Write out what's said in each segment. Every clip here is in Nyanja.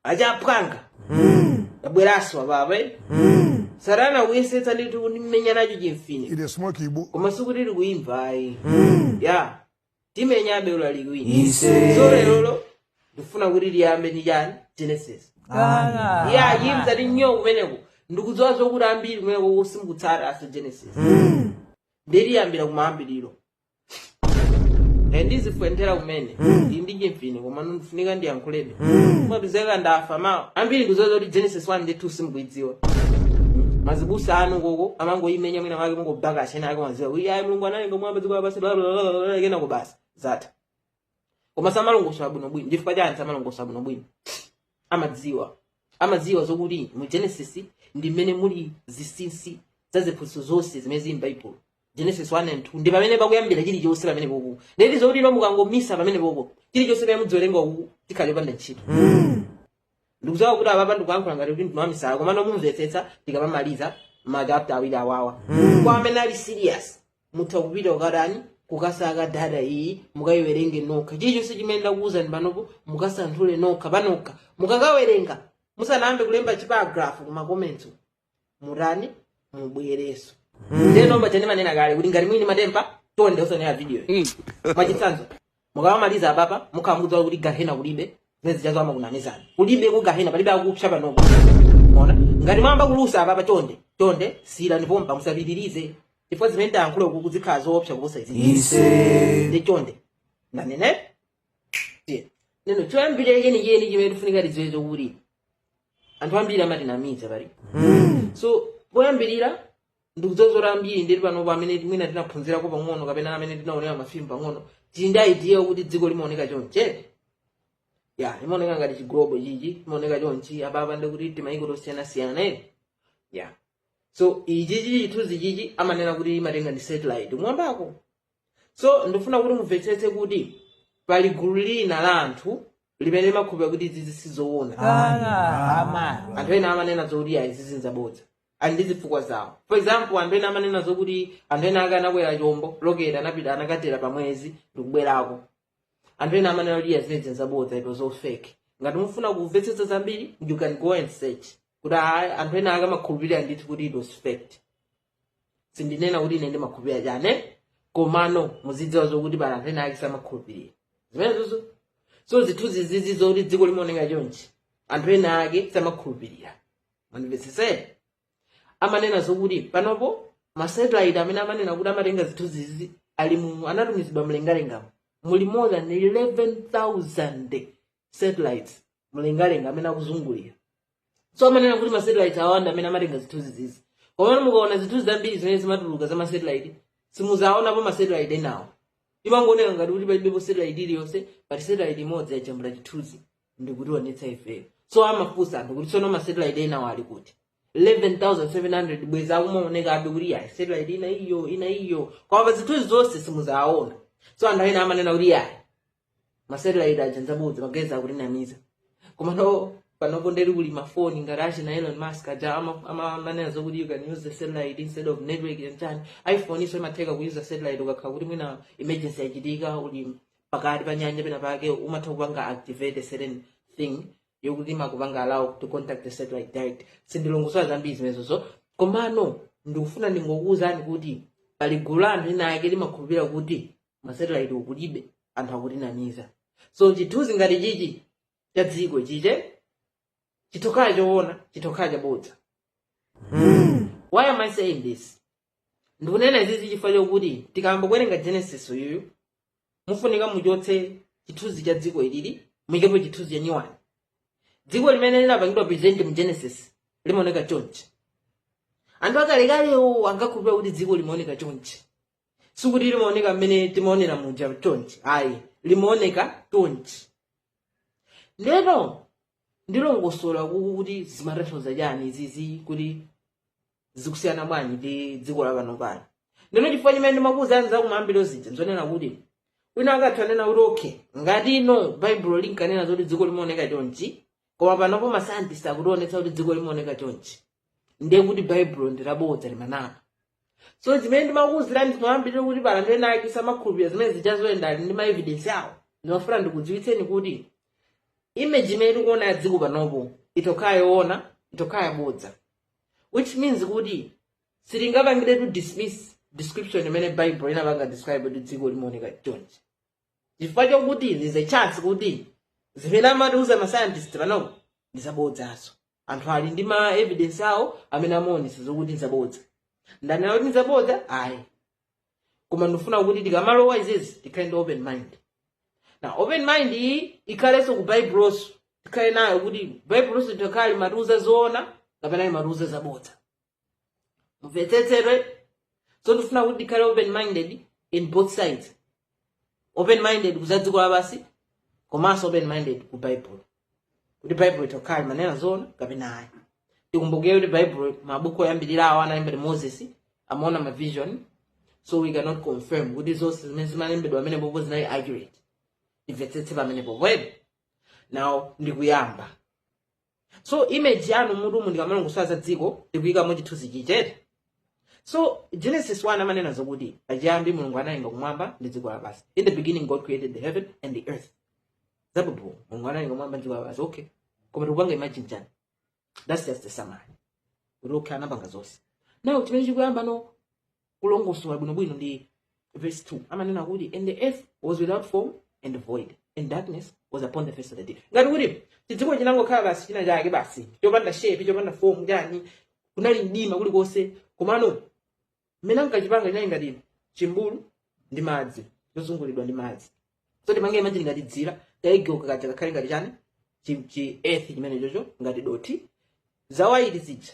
achaphwanga abweranso apapa eh? satana akuyesetsa ndithu kundimenya nacho chimfine It is smoke Igbo. koma sikuti likuyimva ayi ya timenyabe uli so lerolo ndifuna kuti liyambe ndi chani genesis ya chimati nyoo kumeneko ndikudziwa zokuti ambiri kumeneko simukutsata so genesis ndiliyambira kumayambiriro Eh, ndizifwenthera kumene ndi chimfine koma ndifunika ndiyankhulebe mupezeka ndafa mawa ambiri ndikudziwa kuti genesis 1 ndi 2 simukuidziwa mazibusa anu uko amangoyimenya mwina mwake kungobakabaka chinachake madziwa kuti ayi mulungu analenga kumwamba ndi dziko lapansi bla bla bla bla bla, kenako basi zatha koma samalongosola bwinobwino chifukwa chani samalongosola bwinobwino amadziwa amadziwa zokuti mu genesis ndi mmene muli zisinsi za ziphunzitso zonse zimene zili m'baibulo genesis 1 and 2 ndi pamene pakuyambira chilichonse pamene popo ndiye kuti zokuti inu mukangomisa pamene popo chilichonse chimene muziwerenga uku chikhala chopanda ntchito ndikudziwa kuti apapa ndikuyankhula ngati kuti ndine wamisala komano mumvetsetsa tikamamaliza machapta awiri awawa kwa amene ali serious mutha kupita kukatani kukasaka data iyi mukayiwerenge nokha chilichonse chimene ndakuwuzani panopo mukasanthule nokha panokha mukakawerenga musanayambe kulemba chiparagrafu kuma comments mutani mubwerenso ndiyeno paja ndimanena kale kuti ngati muli ndi ma temper chonde osaonera video mwachitsanzo mukamamaliza apapa mukhala mukudziwa kuti gahena kulibe zimene zijazo amakunamizani kulibe ku gahena palibe akupsa panopo ndiye ngati mwayamba kulusa apapa chonde chonde siyirani pompa musapitirize chifukwa zimene ndayankhula uku zikhala zoopsa kuposa izi so ndiye chonde ndanena tiyeni ndiyeno choyambirira chenicheni chimene tifunika tidziwe chokuti anthu ambiri amatinamiza paliso poyambirira ndikudziwa zokuti ambiri tili panopo amene mwina tinaphunzirako pang'ono kapena amene tinaonera mafilimu pang'ono tili ndi idea yokuti dziko limaoneka chonche ya limaoneka ngati chiglobo chichi limaoneka chonchi apapa ndikuti timayiko tosiyanasiyana eti ya so ichichi chithunzi chichi amanena kuti imatenga ndi satellite kumwambako so ndifuna kuti mumvetsetse kuti pali gulu lina la anthu limene limakhulupira kuti izizi sizoona Ah, anthu ena amanena zokuti ayi izizi nzabodza ali ndi zifukwa zawo for example anthu ena amanena zokuti anthu ena ake anakwera chombo rocket anapita anakatera pa mwezi ndikubwerako anthu ena amanena kuti ayi zimenezi nzabodza nza fake ngati mufuna kumvetsetsa zambiri you can go and search kuti ayi anthu ena ake amakhulupirira ndithu kuti it was faked sindinena kuti ine ndimakhulupirira chane komano muzidziwa zokuti pali anthu ena ake samakhulupirira zimenezozo so zithunzi zizizi zokuti dziko limaoneka chonchi anthu ena ake samakhulupirira mandimvetsesere amanena zokuti panopo masatellite amene amanena kuti amatenga zithunzi zizizi anatumizidwa mlengalengamo muli more than 11000 satellites mlengalenga amene akuzungulira so amanena kuti masatellite awa ndi amene amatenga zithunzi zizizi komano mukaona zithunzi zambiri zimene zimatuluka za masatellite simuzaonapo masatellite enawo imangooneka ngati kuti palibepo satellite iliyonse pali satellite imodzi yajambula chithunzi ndikutionetsa ifeyo so amafunsa anthu kuti tsono masatellite enawo ali kuti 11700 bwezi akumaoneka abe kuti yayi satellite ina iyo ina iyo koma pa zithunzi zonse simuzaona so anthu ena amanena kuti yayi masatellite aja ndzabodza magezi akutinamiza komano panopo nde kuli mafoni ngati achina elon musk aja ama- ama- amanena zokuti you can use the satellite instead of network and chani iphone-so imatheka kuyuza satellite ukakhala kuti mwina emergency yachitika uli pakati pa nyanja pena pake umatha kupanga activate a certain thing yokuti imakupanga allow to contact the satellite direct sindilongosola zambiri zimenezozo komano ndikufuna ndingokuwuzani kuti pali gulu la anthu ena ake limakhulupirira kuti masatellite kulibe anthu akutinamiza so chithunzi ngati chichi cha dziko chichi chitokhala choona chitokhala chabodza why am i saying this ndikunena izizi chifukwa chokuti tikayamba kuwerenga genesis uyuyu mufunika muchotse chithunzi cha dziko ilili muikepo chithunzi cha nyowani dziko limene linapangidwa present mu genesis limaoneka chonchi anthu akalekalewo ankakhulupirira kuti dziko limaoneka chonchi sikuti limaoneka mmene timaonera muja chonchi ayi limaoneka chonchi ndeno ndilongosola kuku kuti zimatanthauza chani izizi kuti zikusiyana bwanji ndi dziko la pano pano ndeno chifukwa chimene ndimakuuzani kumayambiriro zija nzonena kuti wina akhoza kunena kuti okay ngati ino baibulo linkanena zoti dziko limaoneka chonchi koma panopo masayantisti akutionetsa kuti dziko limaoneka chonchi ndiye kuti baibulo ndi labodza limanama so zimene ndimakuuzirani kumayambiriro kuti pali anthu ena ake samakhulupirira zimene zija zija nde ali ndi maevidensi awo ndimafuna ndikudziwitseni kuti image imene tikuona ya dziko panopo itokhala yoona itokhala yabodza which means kuti sitingapangiretu dismiss description imene baibulo inapanga describe kuti dziko limaoneka chonchi chifukwa chokuti there is a chance kuti zimene amatiuza ma scientist panopo ndi zabodzaso anthu ali ndi ma evidence awo amene amaonesa zokuti ndi zabodza ndanena kuti ndi zabodza ayi koma ndifuna kuti tikamalowa izizi tikhale ndi open mind na open mind iyi ikhalenso ku baibuloso tikhale nayo kuti baibuloso litokhala limatiuza zoona kapena limatiuza zabodza mumvetsetse so ndifuna kuti ndikhale open minded in both sides open minded ku za dziko lapansi komanso open minded ku baibulo kuti baibulo itokhala limanena zoona kapena ayi tikumbukire kuti baibulo mabuku oyambirira awo analemba ndi moses amaona mavision so we cannot confirm kuti zonse zimene zimalembedwa apapo zinali accurate timvetsetse pamenepopo now ndikuyamba so image yanu m'mutumu ndikamalongosola za dziko tikuyikamo chithunzi chimenecho so genesis 1 amanena zokuti pachiyambi mulungu analenga kumwamba ndi dziko lapansi in the beginning god created the heaven and the earth zabhobho mulungu analenga kumwamba ndi dziko lapansi okay koma tikupanga imagine chani that's just the summary kuti okay anapanga zonse now chimene chikuyamba no kulongosola bwinobwino ndi verse 2 amanena kuti and the earth was without form and void and darkness was upon the face of the deep ngati kuti chidziko chinangokhala basi china chake basi chopanda shape chopanda form kunali mdima kulikonse komano mmene ankachipanga chinali ngati chimbulu cha madzi chozungulidwa ndi madzi so tipange imagine ngati dzira kayelo kaja kakhale ngati chani chi chi earth chimene chocho ngati dothi za white zija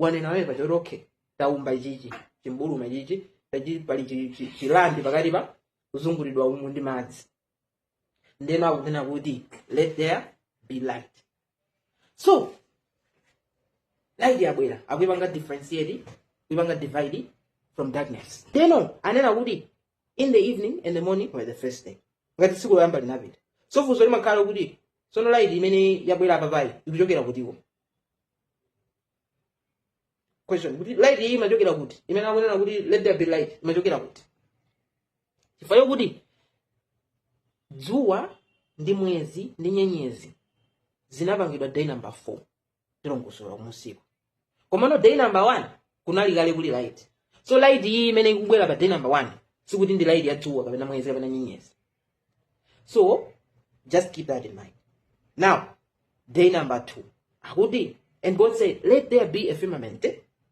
tanena eee paja kuti okay taumba ichichi chimbuluma ichichi eti pali chi- chi- chi land pakati pa kuzungulidwa umu ndi madzi ndeno akunena kuti let there be light so light yabwera akuipanga differentiate kuipanga divide from darkness ndeno anena kuti in the evening and the morning were the first day ngati tsiku loyamba linapita so funso limakhala kuti sono light imene yabwera apapayi ikuchokera kuti question kuti light iyi imachokera kuti imene akunena kuti let there be light imachokera kuti chifukwa chokuti dzuwa ndi mwezi ndi nyenyezi zinapangidwa day number 4 tilongosola kumunsiku komano day number 1 kunali kale kuli light so light iyi imene ikubwera pa day number 1 sikuti ndi light ya dzuwa kapena mwezi kapena nyenyezi so just keep that in mind now day number two akuti and god said let there be a firmament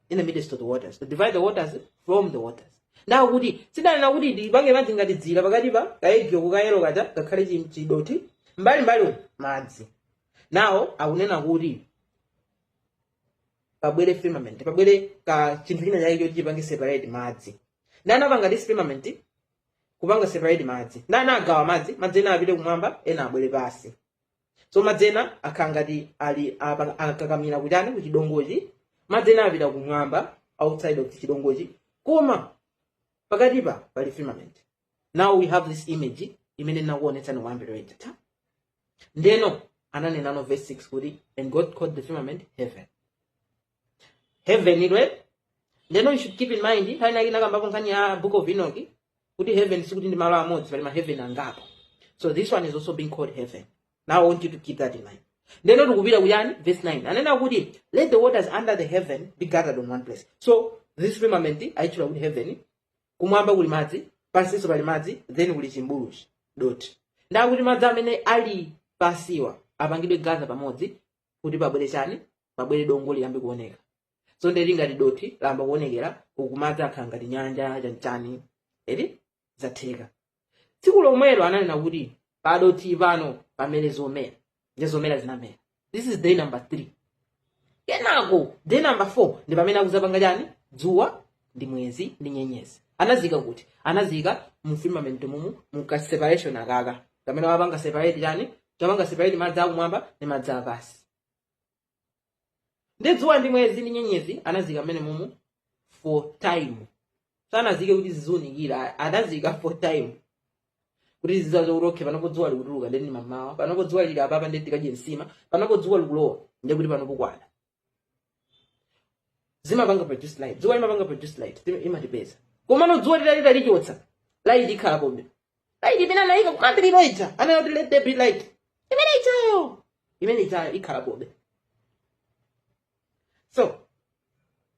in the midst of the waters to divide the waters from the waters now paja ndanena kuti tipange imagine ngati dzira pakati pa kayelo kayelo kaja kakhale chi- chidothi mbali mbali madzi now akunena kuti pabwere firmament pabwere ka chinthu china chake choti chipange separate madzi ndiye anapangadi firmament kupanga separate madzi ndiye anagawa madzi madzi ena apite kumwamba ena abwere pansi so madzi ena akhala ngati ali apa- akakamira kuchani kuchidongochi madzi ena apita kumwamba outside of chidongochi koma pakatipa pali firmament now we have this image imene ndinakuonetsani kuyambira yachitatu ndeno ananena mu verse 6 kuti and god called the firmament heaven heaven ndiyeno you should keep in mind nthawi inake nakambapo nkhani ya book of enoch kuti heaven sikuti ndi malo amodzi pali maheaven angapo so this one is also being called heaven now I want you to keep that in mind ndiyeno tikupita kujani verse 9 anena kuti let the waters under the heaven be gathered in one place so this firmament aitchula kuti heaven kumwamba kuli madzi pansinso pali madzi then kuli chimbuluchi doti nde akuti madzi amene ali pansiwa apangidwe gather pamodzi kuti pabwere chani pabwere dongo dongo liyambe kuoneka so nde kuti ngati dothi layamba kuonekera uku madzi akhala ngati nyanja chanchani eti zatheka tsiku lomwelo ananena kuti padothi pano pamere zomera nde zomera zinamera this is day number three kenako day number four ndi pamene akuzapanga chani dzuwa ndi mwezi ndi nyenyezi anazika kuti anazika mu firmament mumu mu ka separation akaka kamene wapanga separate jani kapanga separate madzi akumwamba ndi madzi apansi nde dzuwa ndi mwezi ndi nyenyezi anazika mmene mumu for time sanazike kuti zizunikira anazika for time kuti zizatiuza kuti okay panopo dzuwa likutuluka ndi mamawa panopo dzuwa lili apapa ndi tikadye nsima panopo dzuwa likulowa ndi kuti panopo kwada zimapanga produce light dzuwa limapanga produce light imatipeza komano dzuwa titati talichotsa light ikhalapobe light imene anayika kumayambiriro ija anena kuti let there be light imene ijayo imene ijayo ikhalapobe so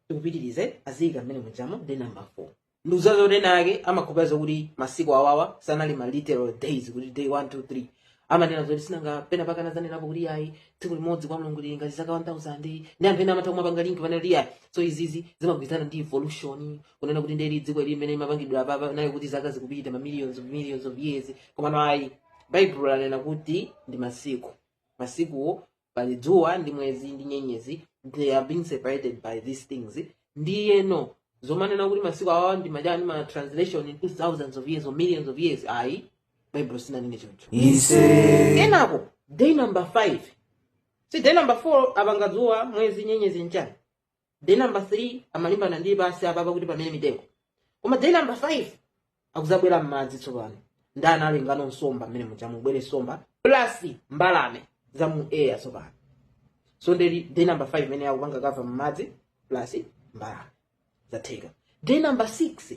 tikupitirize aziyika mmene mujamo day number four ndidziwa zoti ena ake amakhulupirira zokuti masiku awawa sanali ma literal days kuti day 1 2 3 amanena zoti sinanga pena pake anazanenapo kuti ayi tsiku limodzi kwa mulungu lili ngati zaka 1000 nde anthu ena amatha kumapanga link ponena kuti ayi so izizi zimagwirizana ndi evolution kunena kuti nde kuti dziko ili limene limapangidwa apapa ndiye kuti zaka zikupita ma millions of millions of years komano ayi baibulo lanena kuti ndi masiku masikuwo pali dzuwa ndi mwezi ndi nyenyezi they are being separated by these things ndiyeno zomanena kuti masiku awawa ndi ma ujeni ma translation into thousands of years or millions of years ayi baibulo sinanene choncho kenako day number 5 si day number 4 apanga dzuwa mwezi nyenyezi nchani day number 3 amalimbana ndi pansi apapa kuti pamere mitengo koma day number 5 akuzabwera m'madzi tsopano nde analengano nsomba mmene muja mubwere nsomba plus mbalame za mu air tsopano so nde day number 5 imene akupanga cover m'madzi plus mbalame zatheka day number 6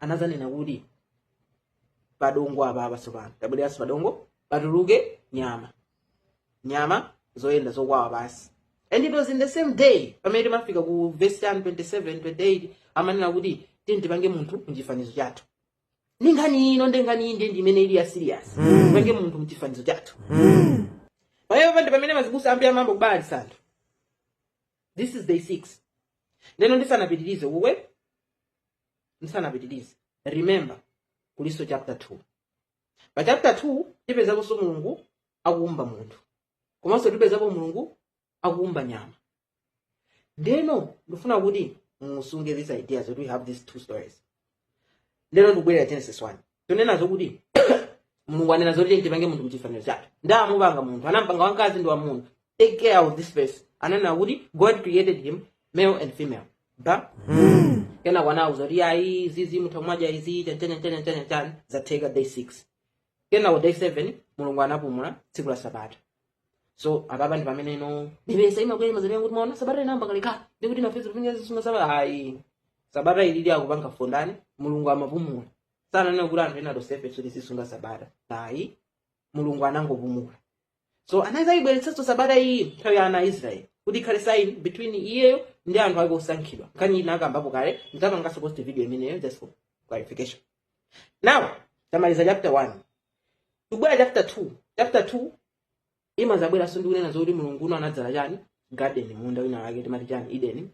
anazanena kuti padongo apapa tsopano tabwereranso padongo patuluke nyama nyama zoyenda zokwawa pansi and it was in the same day pamene timafika ku verse 27 28 amanena kuti tiyeni tipange munthu mchifanizo chathu ndi nkhani ino ndi nkhani iyi ndi ndi imene ili ya serious tipange munthu mchifanizo chathu pamenepa ndi pamene azibusa ambiri amayamba kubalalitsa anthu this is day 6 ndeno ndisanapitirize kukwe ndisanapitirize remember kulinso chapter 2 pa chapter 2 tipezakonso mulungu akuumba munthu komanso tipezapo mulungu akuumba nyama ndeno ndifuna kuti musunge this idea that we have these two stories ndeno ndikubwerera genesis 1 tonena zokuti mulungu anena zoti tiyeni tipange munthu mchifaniziro chathu nde atamupanga munthu anampanga wamkazi ndi wamuna take care of this verse ananena kuti god created him male and female ba kenako anauza kuti ayi izizi mutha kumadya izi chanchanyanchanyanchanyanchan zatheka day 6 kenako day 7 mulungu anapumula tsiku la sabata so apapa ndi pamene ino ndi pressure imakwera mwa amene kuti maona sabata inayamba kalekale ndi kuti ifeso tikufunika tizisunga sabata ayi sabata ilili yokupanga fun ndani mulungu amapumula sananena kuti anthu ena tonsefe kuti tizisunga sabata ayi mulungu anangopumula so anazayibweretsanso sabata iyi nthawi ya ana a israeli kuti ikhale sign between iyeyo ndi anthu ake osankhidwa nkhani iyi nakambapo kale nditapanganso post video imeneyo just for clarification now tamaliza chapter 1 tibwera chapter 2 chapter 2 imazabweranso ndi kunena zoti mulungu uno anadzala chani garden munda wina wake timati chani eden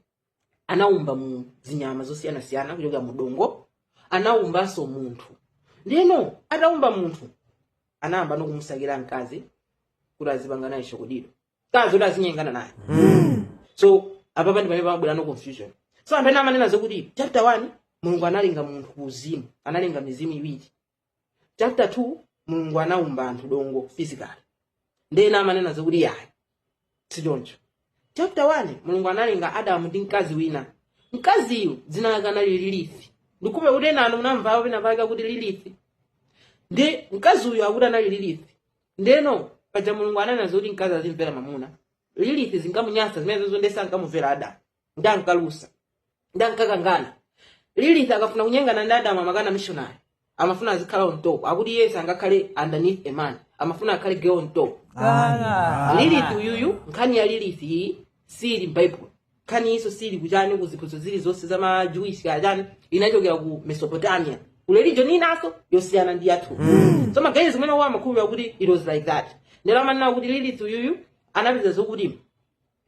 anaumba mu zinyama zosiyanasiyana kuchokera mu dongo anaumbanso munthu ndeno ataumba munthu anayambano kumusakira mkazi kuti azipanga naye chokodido mkazi kuti azinyengana naye so apapa ndipamene pamabwerano confusion so anthu ena amanena zokuti chapter 1 mulungu analenga munthu ku uzimu analenga mizimu iwiri chapter 2 mulungu anaumba anthu dongo physical ndena amanena zakuti yayi sichoncho chapter 1 mulungu analenga adamu ndi mkazi wina mkaziyu dzina lake anali lilith ndi hope kuti enanu munamvapo pena pake kuti lilith ndi mkazi uyu akuti anali lilith ndeno paja mulungu ananena zoti mkazi azimvera mamuna lilith zinkamunyasa zimenezozo nde sankamumvera adamu nde ankalusa nde ankakangana lilith akafuna kunyengana ndi adamu amakana missionary amafuna azikhala on top akuti iye sangakhale underneath a man amafuna akhale girl on top Ah. lilith uyuyu nkhani ya lilith iyi siili m'baibulo nkhani iyiso siili kuchani ku ziphunzitso zilizonse za majewish kaya chani inachokera ku mesopotamia ku religion inaso yosiyana ndi yathu so maganizo amenewa amakhulupira kuti it was like that ndeno amanena kuti lilith uyuyu anapeza zokuti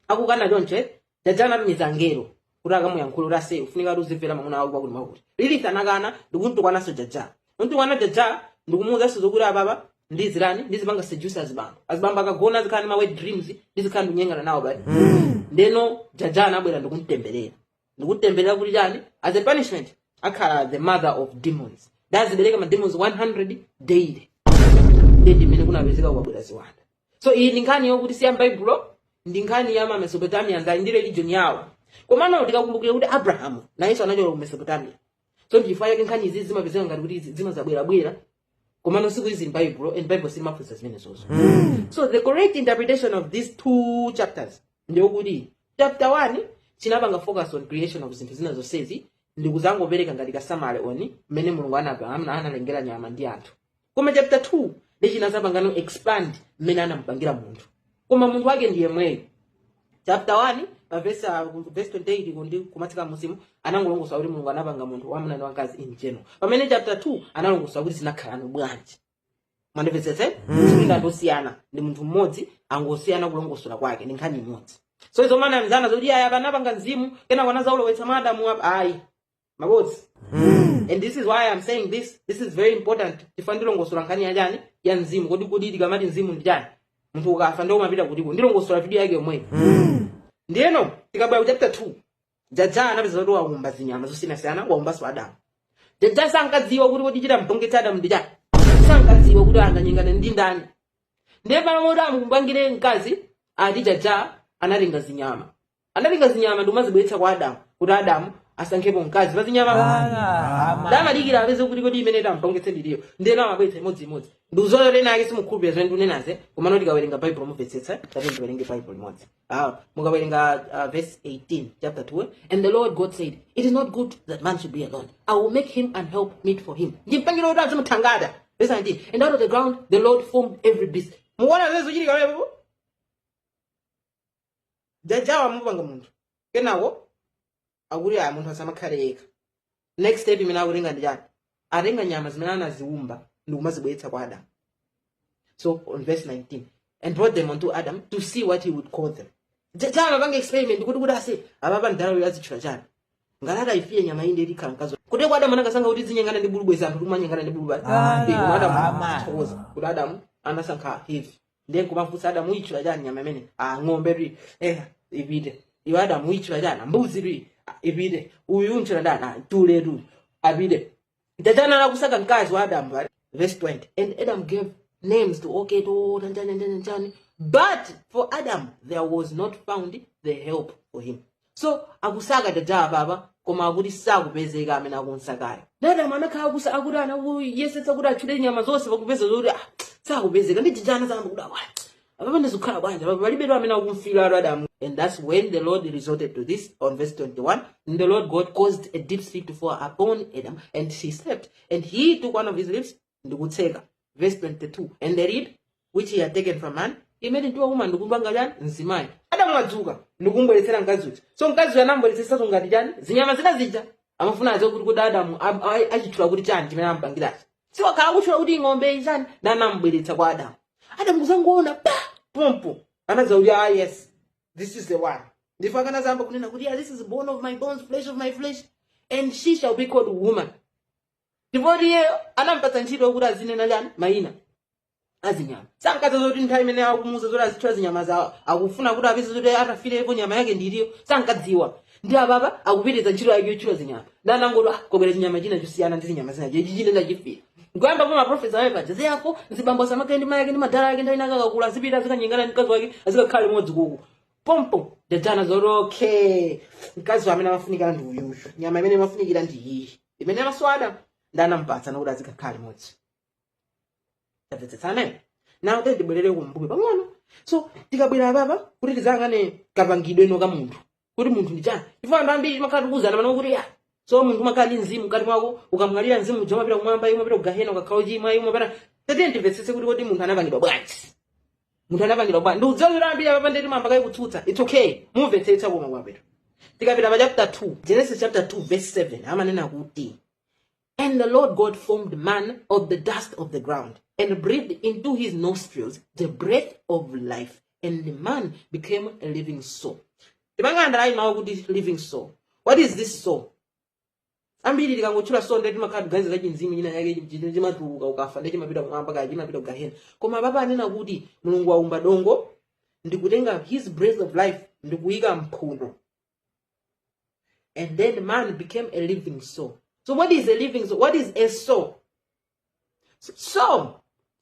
akukana choncho eh? jaja anatumiza angelo kuti akamuyankhule kuti ase ufunika kuti uzimvera mwamuna wako pakuti akuti lilith anakana ndikumtukwananso jaja kumtukwana jaja ndikumuwuzanso zokuti apapa ndizichani ndizipanga seduce azibambo azibambo akagona azikhala ndi ma wet dreams ndizikhala ndikunyengana nawo ndeno jaja anabwera ndikumtemberera ndikumtemberera kuti chani as a punishment akhala the mother of demons ndi azibereka ma demons 100 daily ndiye ndi mmene kunapezeka kwabwera ziwanda so iyi ndi nkhani yokuti siya mbaibulo ndi nkhani ya ma mesopotamians ali ndi religion yawo komano tikakumbukire kuti abrahamu nayenso anachoka ku mesopotamia so ndichifukwa chake nkhani izi zimapezeka ngati kuti zimazabwerabwera komano sikuti zili m'baibulo and baibulo silimaphunzitsa zimenezozo so the correct interpretation of these two chapters ndiyokuti chapter 1 chinapanga focus on creation of zinthu zina zonsezi ndikuzangopereka ngati ka summary on mmene mulungu anapa- ana- analengera nyama ndi anthu koma chapter 2 nde chinazapangano expand mmene anamupangira munthu koma munthu wake ndi yemweyo chapter 1 pa verse ah, ku verse 28 ndi kumatsika mmusimu anangolongosola kuti mulungu anapanga munthu wamuna ndi wamkazi in general pamene chapter 2 analongosola kuti zinakhalano bwanji mundimvetsetse si anthu osiyana ndi munthu mmodzi angosiyana kulongosola kwake ndi nkhani imodzi so izo amanamizana zoti ayi anapanga mzimu kenako anazaulowetsa mwa adamu apa ayi mabodza and this is why i'm saying this this is very important chifukwa ndilongosola nkhani ya chani ya mzimu kodi kodi tikamati mzimu ndi chani munthu ukafa nde umapita kutiko ndilongosola video yakeyake yomweyo ndiyeno tikabwera ku chapter 2 jaja anapeza kuti waumba zinyama zosiyanasiyana waumbanso adamu jaja sankadziwa kuti kodi chitamusangalatsa adamu ndi chani sankadziwa kuti anganyengane ndi ndani ndiye pamene kuti amupangire mkazi ati jaja anatenga zinyama Anatenga zinyama ndi kumazibweretsa kwa Adamu kuti Adamu asankhepo mkazi pa zinyama. Nde amadikira apeze kuti kodi imene itamupangitse ndi iti. Ndiyeno amabweretsa imodziimodzi. Ndikudziwa ena ake simukhulupirira zimene ndikunenazi koma mukawerenga Baibulo mumvetsetsa kapena tiwerenge Baibulo limodzi. Ah, mukawerenga uh, verse 18 chapter 2 and the Lord God said it is not good that man should be alone. I will make him an help meet for him. Ndimpangira oti azimuthangata. Verse 19 and out of the ground the Lord formed every beast. Mukuona zimene zikuchitika pamenepo? jajawa amupanga munthu kenako akuti ayi munthu asamakhale yekha next step imene akutenga ndi chani atenga nyama zimene anaziumba ndi kumazibweretsa kwa adamu so verse 19 and brought them unto adam to see what he would call them jajawa amapanga experiment kuti kuti ase apapa mdalayu azitchula chani ngalata ifiye nyama nde izikhala mkazi kuti kwa adamu anakasankha kuti azinyengana ndi bulu bwenzi anthu tikumanyengana ndi bulu bwenzi Ah, koma adamu ama. tithokoze kuti adamu anasankha hava ndiye kumafunsa adamuitchula chani nyama imene ah ng'ombe twi eh ipite iwe adamuitchula chani mbuzi twi ah, ipite uyu untchula ndani ah tule tu apite ndachana anakusaka mkazi wa adamu right? verse 20 and adam gave names to okay to nanjani nanjani nanjani but for adam there was not found the help for him so akusaka uja apapa koma akuti sakupezeka amene akumsakayo Adamu anakhala kuti akuyesetsa kuti atchule nyama zonse pakupeza zoti ah, sakupezeka ndi jijana zamba kuti awa apapa ndizikhala bwanji apapa palibetu amene akumfira Adamu and that's when the lord resorted to this on verse 21 and the lord god caused a deep sleep to fall upon adam and he slept and he took one of his ribs ndikutseka verse 22 and the rib which he had taken from man he made into a woman ndikumpanga chani mzimayi Adamu adzuka ndikumbweretsera mkazi uja so mkazi uja anambweretsanso ngati chani zinyama zina zija amafuna adziwe kuti kuti adamu a- a- achitchula kuti chani chimene amupangirachi so akukhala akutchula kuti ng'ombe ichani nanambweretsa kwa adamu adamu kungoona pompo anadziwa kuti ah yes this is the one ndipo anadzayamba kunena kuti yeah, this is bone of my bones flesh of my flesh and she shall be called woman ndipo iyeyo anampatsa ntchito kuti azinena chani mayina azinyama sankadziwa zoti nthawi imene akumuuza zoti azitchula zinyamazo akufuna kuti apeze zoti atafirepo nyama yake ndi iti iyo sankadziwa ndi ababa akupitiriza ntchito yake yotchula zinyama nanangoti ah, kwabwera chinyama china chosiyana ndi zinyama zinazo ichi ine ndachifira nkuyamba pa maprofesa ayo adzasiya bambo ake ndi mayi ake ndi madala yake nthawi inayake akakula azipita azikanyengana ndi mkazi wake azikakhala limodzi kuku pompo anadziwa zoti okay mkazi amene amafunikira ndi uyuyu nyama imene imafunikira ndi iyi imenenso adamu ndi anamupatsa nakuti azikakhala limodzi tamvetsetsana eti ndibwerere kumbuyo pang'ono so tikabwera apapa kuti tiyang'ane kapangidwe ka munthu kuti munthu ndi chani chifukwa anthu ambiri timakhala tikuwuzana pano kuti ya so munthu umakhala ndi mzimu mkati mwako ukamwalira mzimu uja umapita kumwamba iwe umapita kugahena ukakhala ochimwa iwe umapita tatiyeni timvetsetse kuti kodi munthu anapangidwa bwanji munthu anapangidwa bwanji ndikudziwa kuti ambiri apapa nde mwayamba kale kutsutsa it's okay mumvetsetsa koma kumapeto tikapita pa chapter 2 genesis chapter 2 verse 7 amanena kuti and the lord god formed man of the dust of the ground and breathed into his nostrils the breath of life and man became a living soul tipange underline mawu kuti living soul what is this soul ambiri tikangotchula soul nde timakhala tikuganiza za chimzimu china chake chimene chimatuluka ukafa nde chimapita kumwamba kaya chimapita kugahena koma apapa anena kuti mulungu waumba dongo ndikutenga his breath of life ndikuyika mphuno and then man became a living soul so what is a living soul what is a soul soul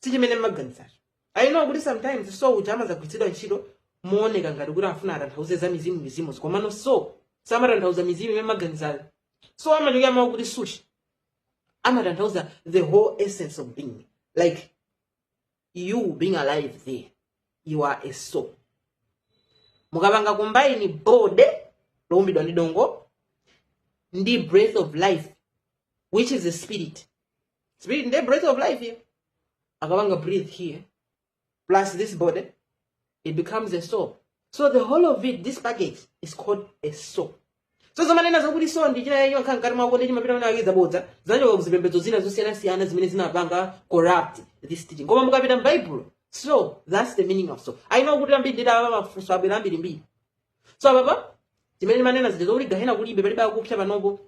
sichimene mmaganizacho i know kuti sometimes soul uja amadzagwiritsidwa ntchito mooneka ngati kuti afuna atanthauze za mizimu mizimu komano soul samatanthauza mizimu imene mmaganizayo soul amachokera kumawu kuti psuche amatanthauza the whole essence of being like you being alive there you are a soul mukapanga combine body loumbidwa ndi dongo ndi breath of life which is the spirit spirit the breath of life here akapanga breathe here plus this body it becomes a soul so the whole of it this package is called a soul so zomanena zakuti soul ndi china chake chimakhala mkati mwako ndi chimapita kuti akidza bodza zinachokera kuzipembedzo zina zosiyanasiyana zimene zinapanga corrupt this teaching koma mukapita m'baibulo so that's the meaning of soul I know kuti ambiri ndithu apa mafunso abwera ambirimbiri so apapa ndimene ndimanena zija zokuti gahena kulibe palibe akupsa panopo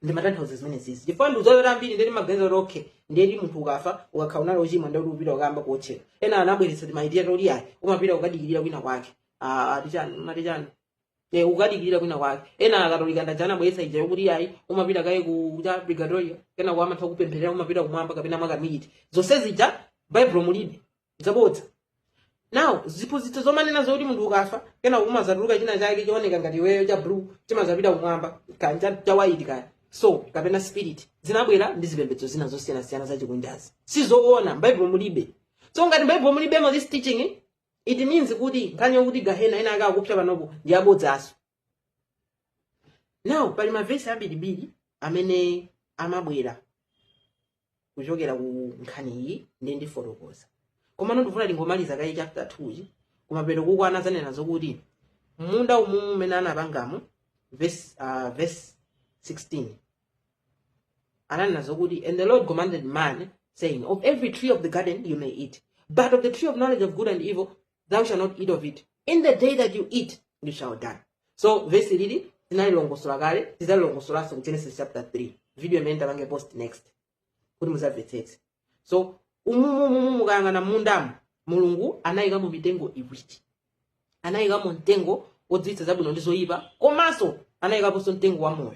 ndimatanthauza zimenezizi chifukwa ndikudziwa ambiri ali ndi maganizo oti okay ndeti munthu ukafa ngati ukakhala unali ochimwa ndeti upita kukayamba kuotchedwa ena anabweretsa timatheory toti ayi umapita ukadikirira kwina kwake Ah, ati chani mati chani ne ukadikirira kwina kwake ena akatolika ndaja anabweretsa ija yokuti ayi umapita kaye ku cha purigatoriyo kenako amatha kupempherera umapita kumwamba kapena mwakamiti zonse zija baibulo mulibe zabodza now ziphunzitso zomanena zoti munthu ukafa kena kumazatuluka china chake chooneka ngati iweyo cha blue chimazapita kumwamba kaya cha- cha white kaya so kapena spirit zinabwera ndi zipembedzo zina zosiyanasiyana zachikunjazi sizoona mbaibulo mulibe so ngati mbaibulo mulibemo this teaching it means kuti nkhani yokuti gahena ena ake akupsa panopo ndi abodzaso now pali mavesi ambirimbiri amene amabwera kuchokera ku nkhani iyi ndi ndifotokoza komano ndifuna tingomaliza kaye chapter 2 chi kumapeto kuko anazanena zokuti munda umewu umene anapangamo verse, uh, verse 16 ananena zokuti and the lord commanded man saying of every tree of the garden you may eat but of the tree of knowledge of good and evil thou shall not eat of it in the day that you eat you shall die so vesi ili tinalilongosola kale tizalilongosolanso ku genesis chapter 3 video imene tapange post next kuti muzamvetsetse so umumumu mukayang'ana mundamo mulungu anayikamo mitengo iwiri anayikamo mtengo wodziwitsa zabwino ndi zoyipa komanso anayikaponso mtengo wa moyo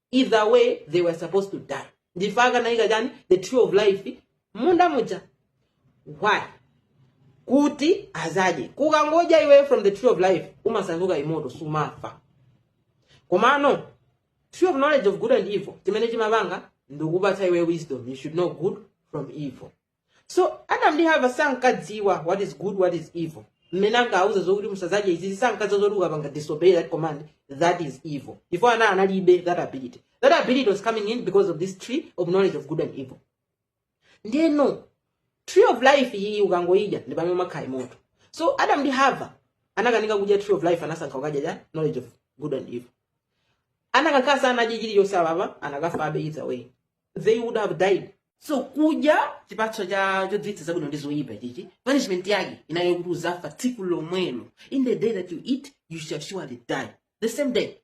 either way they were supposed to die ndi chifukwa anayika chani the tree of life munda muja why kuti azadye ukangodya iweyo from the tree of life umasanduka immortal sumafa komano tree of knowledge of good and evil chimene chimapanga ndikupatsa iweyo wisdom you should know good from evil so adam ndi hava sankadziwa what is good what is evil mmene ankawauza zokuti musadzadye izizi sankadziwa zoti ukapanga disobey that command that is evil chifukwa ana- analibe that ability that ability was coming in because of this tree of knowledge of good and evil ndeno tree of life iyi ukangoidya ndi pamene umakhala immortal so adam ndi hava anakanika kudya tree of life anasankha kukadya cha knowledge of good and evil akanakhala sanadye chilichonse apapa akanafabe either way they would have died so kudya chipatso cha chodziwitsa zabwino ndi zoyipa chichi punishment yake inali kuti uzafa tsiku lomwelo in the day that you eat you shall surely die the same day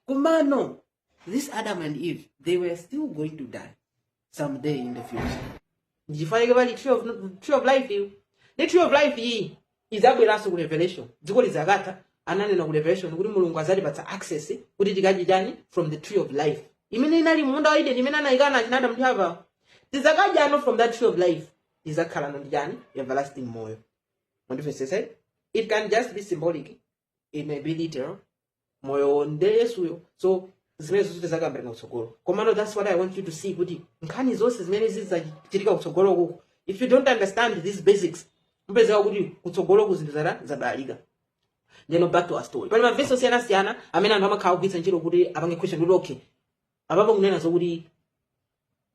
komano this adam and eve they were still going to die someday in the future ndichifukwa chake pali tree of, tree of life iyo ndi tree of life iyi idzabweranso ku revelation dziko lidzakatha ananena ku revelation kuti mulungu adzatipatsa access kuti tikadye chani from the tree of life imene inali munda wa Edeni imene anayikana achina Adamu apa tidzakadyano from that tree of life tidzakhalano ndi chani everlasting moyo mundimvetsese it can just be symbolic it may be literal moyo nde yesuyo so zimenezo zonse tidzakambirana kutsogolo komano that's what i want you to see kuti nkhani zonse zimene zidzachitika kutsogoloko if you don't understand these basics mupezeka kuti kutsogolo kuzinthu zitabalalika ndeno back to our story pali mavesi osiyanasiyana amene anthu amakhala kugwiritsa ntchito kuti apange question kuti okay apapo kunena zokuti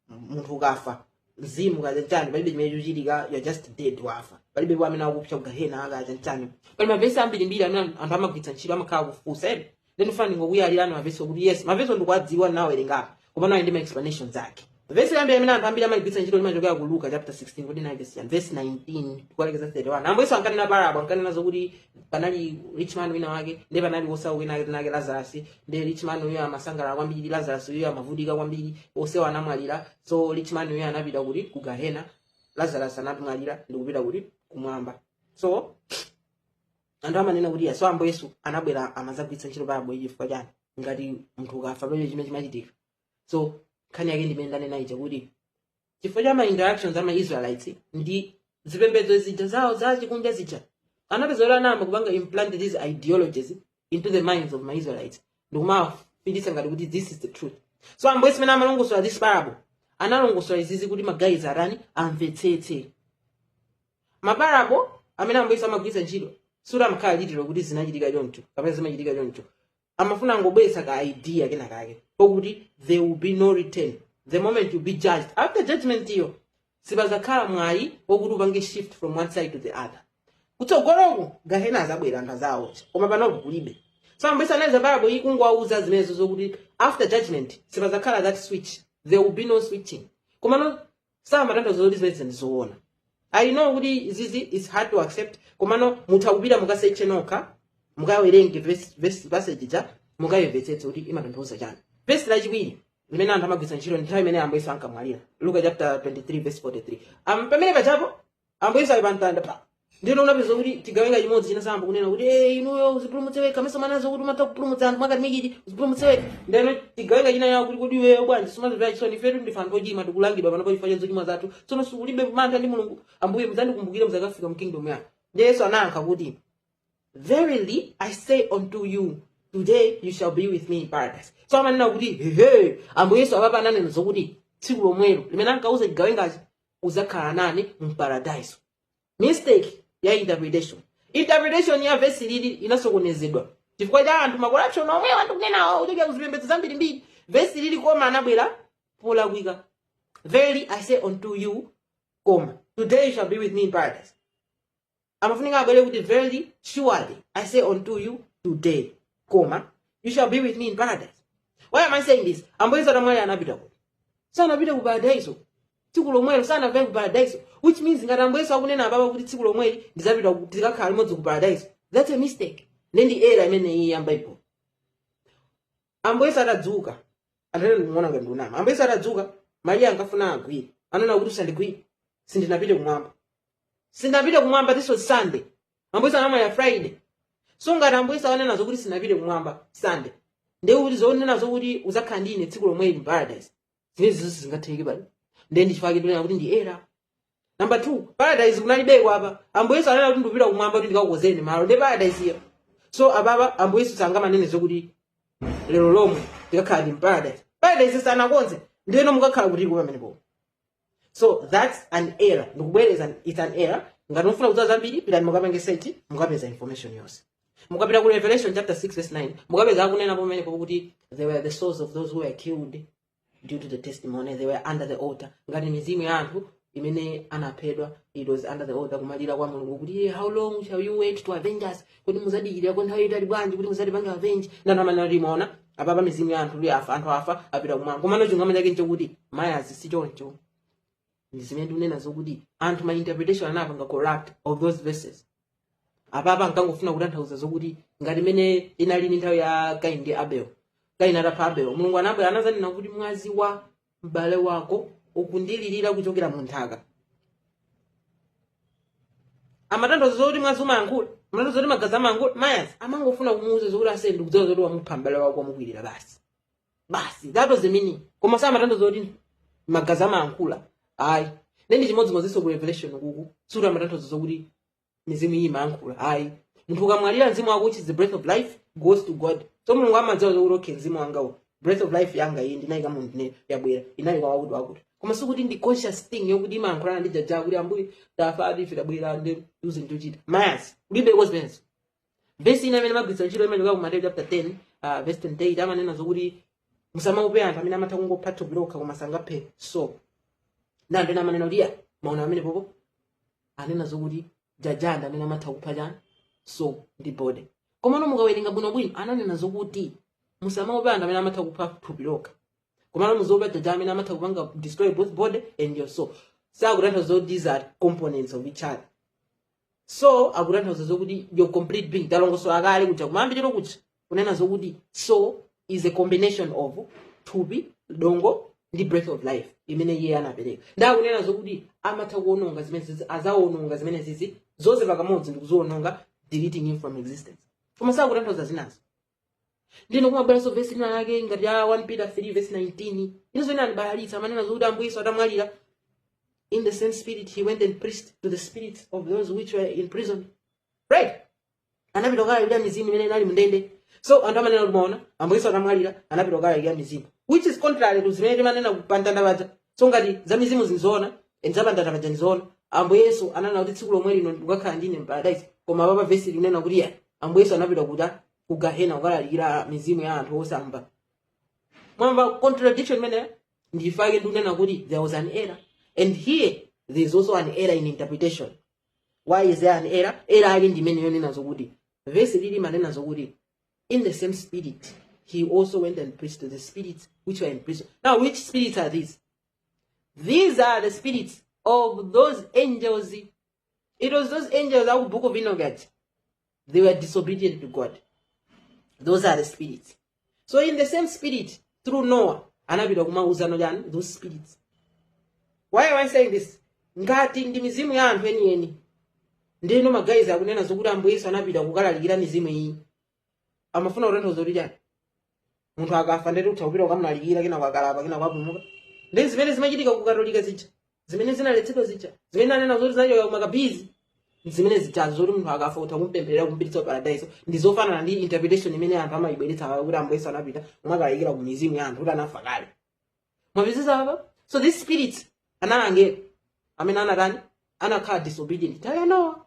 munthu ukafa mzimu kaya chani palibe chimene chimachitika you're just dead wafa palibe kaya amene akupsa kugahena kaya chani pali mavesi ambirimbiri amene anthu amagwiritsa ntchito amakhala kufunsa ene then I'm fine ndingokuyalirani mavesi okuti yes mavesi ndikuwadziwa nawerengapo koma nawo ali ndi ma explanations ake vesi loyamba amene anthu ambiri amagwiritsa ntchito limachokera ku luka chapter 16 kuyambira vesi chani vesi 19 kukalekeza 31 ambuye yesu ankanena parabo ankanena zokuti panali rich man wina wake ndi panali wosauka wina wake dzina lake lazarasi nde richman uyo amasangalala kwambiri lazarus uyo amavutika kwambiri onsewo anamwalira so richman uyo anapita kuti ku gahena lazarus anamwalira ndikupita kuti kumwamba so anthu amanena kuti yesu ambuye yesu anabwera amazagwiritsa ntchito parabo chifukwa chani ngati munthu ukafa palibe chimene chimachitika so nkhani yake ndimene ndanena ija kuti chifukwa cha ma interactions ama israelites ndi zipembedzo zija zawo za chikunja zija anapezeka kuti anayamba kupanga implant these ideologies into the minds of ma israelites ndikumawapangitsa ngati kuti this is the truth so ambuye mmene amalongosola this parable analongosola izizi kuti magayiziwa atani amvetsetse maparabo amene ambuye amagwiritsa ntchito sikuti amakhala literal kuti zinachitika choncho kapena zimachitika choncho amafuna kungobweretsa ka idea kena kake kokuti there will be no return the moment you'll be judged after judgment iyo sipazakhala mwayi wokuti upange shift from one side to the other kutsogoloku gahena azabwera anthu azawaotcha koma panopo kulibe so ambuye yesu ananena parabo iyi kungowauza zimenezo zokuti after judgment sipazakhala that switch there will be no switching komano samatanthauza kuti zimenezi ndi zoona i know kuti izizi is hard to accept komano mutha kupita mukaseche nokha mukawerenge verse- verse- passage ja mukayimvetsetse kuti imatanthauza chani vesi lachiwiri limene anthu amagwiritsa ntchito ndi nthawi imene ambuyesu ankamwalira luka chapter 23 verse 43 um, pamene pajapo ambuye yesu ali pa mtanda pa ndiyeno unapeza kuti chigawenga chimodzi chinayamba kunena kuti "Eh, inuyo uzipulumutse wekha mesa umanena zokuti umatha kupulumutsa anthu mwakatimikiti uzipulumutse wekha ndeno chigawenga chinanena kuti kodi iweyo bwanji sumazimvera chisoni ifetu ndife anthu ochimwa tikulangidwa panopa chifukwa cha zochimwa zathu tsono siulibe mantha ndi mulungu ambuye mudzandikumbukire muzakafika mu kingdom yanu ndi yesu anayankha kuti Verily I say unto you, today you shall be with me in paradise. So amanena kuti hehe, ambuye Yesu apapa ananena zokuti tsiku lomwelo limene ankauza chigawengachi udzakhala nane mu paradise mistake ya interpretation interpretation ya vesi lili inasokonezedwa chifukwa cha anthu makorapshoni omwe wa ndikunenawo kuchokera kuzipembedzo zambirimbiri vesi lili koma anabwera polakwika verily i say unto you koma today you shall be with me in paradise amafunika abwere kuti verily surely i say unto you today koma you shall be with me in paradise why am i saying this ambuye yesu atamwalira anapita kuti sanapite ku paradaiso tsiku lomwelo sanapite ku paradaiso which means ngati ambuye yesu akunena apapa kuti tsiku lomweri ndizapita ku- tizikakhala limodzi ku paradaiso that's a mistake nde ndi era imeneyi ya bible ambuye yesu atadzuka anthu ena akuona ngati ndikunama ambuye yesu atadzuka mariya ankafuna awagwire ananena kuti usandigwire sindinapite kumwamba sindinapite kumwamba this was sunday ambuye yesu anamwalira friday so ngati ambuye yesu akunena zokuti sindinapite kumwamba sunday ndiye kuti zonena zokuti uzakhala ndine tsiku lomweli mu paradise zimenezo sizingatheke pali ndiye ndi chifukwa chake ndikunena kuti ndi era namba two paradise kunalibeko apa ambuye yesu anena kuti ndikupita kumwamba kuti ndikakukonzereni malo ndiye paradise iyo so apapa ambuye yesu sangamanenenso zokuti lero lomwe tikakhala mu paradise paradise sanakonze ndiyeno mukakhala kutiko pamenepo so that's an error ndikubwereza it's an error ngati mufuna kudziwa zambiri pitani mukapange search mukapeza information yonse mukapita ku revelation chapter 6 verse 9 mukapeza akunena pamenepo kuti they were the souls of those who were killed due to the testimony they were under the altar ngati mizimu ya anthu imene anaphedwa it was under the altar kumalira kwa mulungu kuti "Iye, how long shall you wait to avenge us kodi muzadikirira kwa nthawi yaitali bwanji kuti muzatipange avenge nde anthu amanena kuti mwaona apapa mizimu ya anthu anthu afa anthu afa apita kumwamba komano chilungamo chake nchokuti mayazi si choncho ndi zimene ndikunena zokuti anthu ma interpretation anapanga corrupt of those verses apapa ankangofuna kutanthauza zokuti ngati mene inalili nthawi ya kaini ndi abel kaini atapha abel mulungu anabwera anazanena kuti mwazi wa m'bale wako ukundilirira kuchokera mu nthaka amatanthauza zokuti mwazi umayankhula amatanthauza zoti magazi amayankhula mayazi amangofuna kumuuza zokuti ase ndikudziwa zoti wamupha m'bale wako wamukwirira basi basi that was the meaning koma samatanthauza kuti magazi amayankhula ayi nende chimodzimodzinso ku revelation uku sikuti amatanthauza zokuti mizimu iyi imayankhula ayi munthu ukamwalira mzimu wako which is the breath of life goes to god so mulungu amadziwa zokuti okay mzimu wangawo breath of life yanga iyi ndinayika mwa munthu ndiye yabwera inali kwa wakuti wakuti koma sikuti ndi conscious thing yokuti imayankhulana ndi Jah Jah kuti ambuye tafa ati ife tabwera ndi uze ndichita mayasi ulibe kozimenezo vesi ina imene amagwiritsa ntchito imachokera ku mateyu chapter 10 uh, verse 28 amanena zokuti musamaope anthu amene amatha kungopha thupi lokha koma sangaphe soul ndiye amanena kuti ya maona apapo anena zokuti Jah Jah ndi amene amatha kupha chani soul ndi body komano mukawerenga bwinobwino ananena zokuti musamaope anthu amene amatha kupha thupi lokha komano muziopa Jah Jah amene amatha kupanga destroy both body and your soul sakutanthauza zoti ndi ma components of each other so akutanthauza zokuti your complete being talongosola kale kuja kumayambiriro kuja kunena zokuti so is a combination of thupi dongo ndi breath of life imene iye anapereka nde akunena zokuti amatha kuononga zimenezizi azaononga zimenezizi zonse pakamodzi ndikuziononga deleting him from existence koma sakutanthauza zinazo ndiye kumabweranso vesi ina yake ngati ya 1 peter 3 vesi 19 inenso inandibalalitsa amanena zokuti ambuye yesu atamwalira in the same spirit he went and preached to the spirits of those which were in prison right anapita kukalalikira mizimu imene inali mndende so anthu amanena kuti maona ambuye yesu atamwalira anapita kukalalikira mizimu which is contrary to zimene timanena kuti pamtanda paja so ngati za mizimu zili zoona nza pamtanda paja ndizoona ambuye yesu ananena kuti tsiku lomwe lino ukakhala ndine mparadaisi koma apapa vesi ikunena kuti ya ambuye yesu anapita kuta ku gahena kukalalikira mizimu ya anthu osamva mwamva contradiction imeneyo nchifukwa chake ndikunena kuti there was an error and here there is also an error in interpretation why is there an error error yake ndi imene yonena zokuti vesi ili limanena zokuti in the same spirit he also went and preached to the spirits which were in prison now which spirits are these These are the spirits of those angels. It was those angels aku Book of Enoch that they were disobedient to God. Those are the spirits. So in the same spirit, through Noah, anapita kumawauzano chani those spirits. Why am I saying this? Ngati ndi mizimu ya anthu enieni. Ndeno magayizi akanena zokuti Ambuye Yesu anapita kukalalikira mizimu iyi. amafuna kutanthauza kuti chani munthu akafa nde kuti utha kupita ukamlalikira kenako akalapa kenako apulumuka ndi zimene zimachitika ku katolika zija zimene zinaletsedwa zija zimene anena zoti zachoka kumakabizi zimene zitazo zoti munthu akafa utha kumpempherera kumpititsa paradaiso ndi zofanana ndi interpretation imene anthu amayibweretsa kuti ambuyesu anapita kumakalalikira ku mizimu ya anthu oti anafa kale mwapezeza apa so this spirit anali angelo amene anatani anakhala disobedient nthawi ya nowa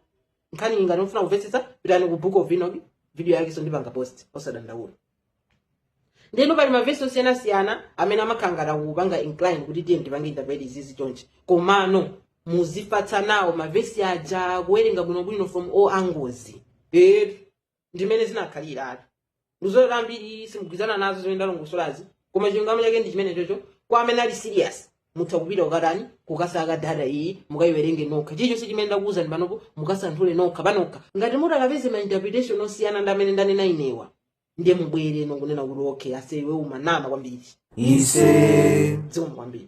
nkhani iyi ngati mukufuna kumvetsetsa pitani ku book of enoch video yake so ndipanga post osadandaula ndeno pali mavesi osiyanasiyana amene amakhala ngati akupanga incline kuti tipange interpret izizi chonchi komano muzifatsa nawo mavesi aja kuwerenga bwinobwino from all angles eh ndimene zinakhaliratu ndikudziwa ambiri simugwirizana nazo zimene ndalongosolazi koma chilungamo chake ndi chimenecho kwa amene ali serious mutha kupita kukatani kukasaka data iyi mukayiwerenge nokha chilichonse chimene ndakuwuzani panopo mukasanthule nokha panokha ngati mutakapeza ma interpretation osiyana ndi mmene ndanena inewa ndiye mubwerenso kunena kuti okay ase iwe umanama kwambiri ise zikomo kwambiri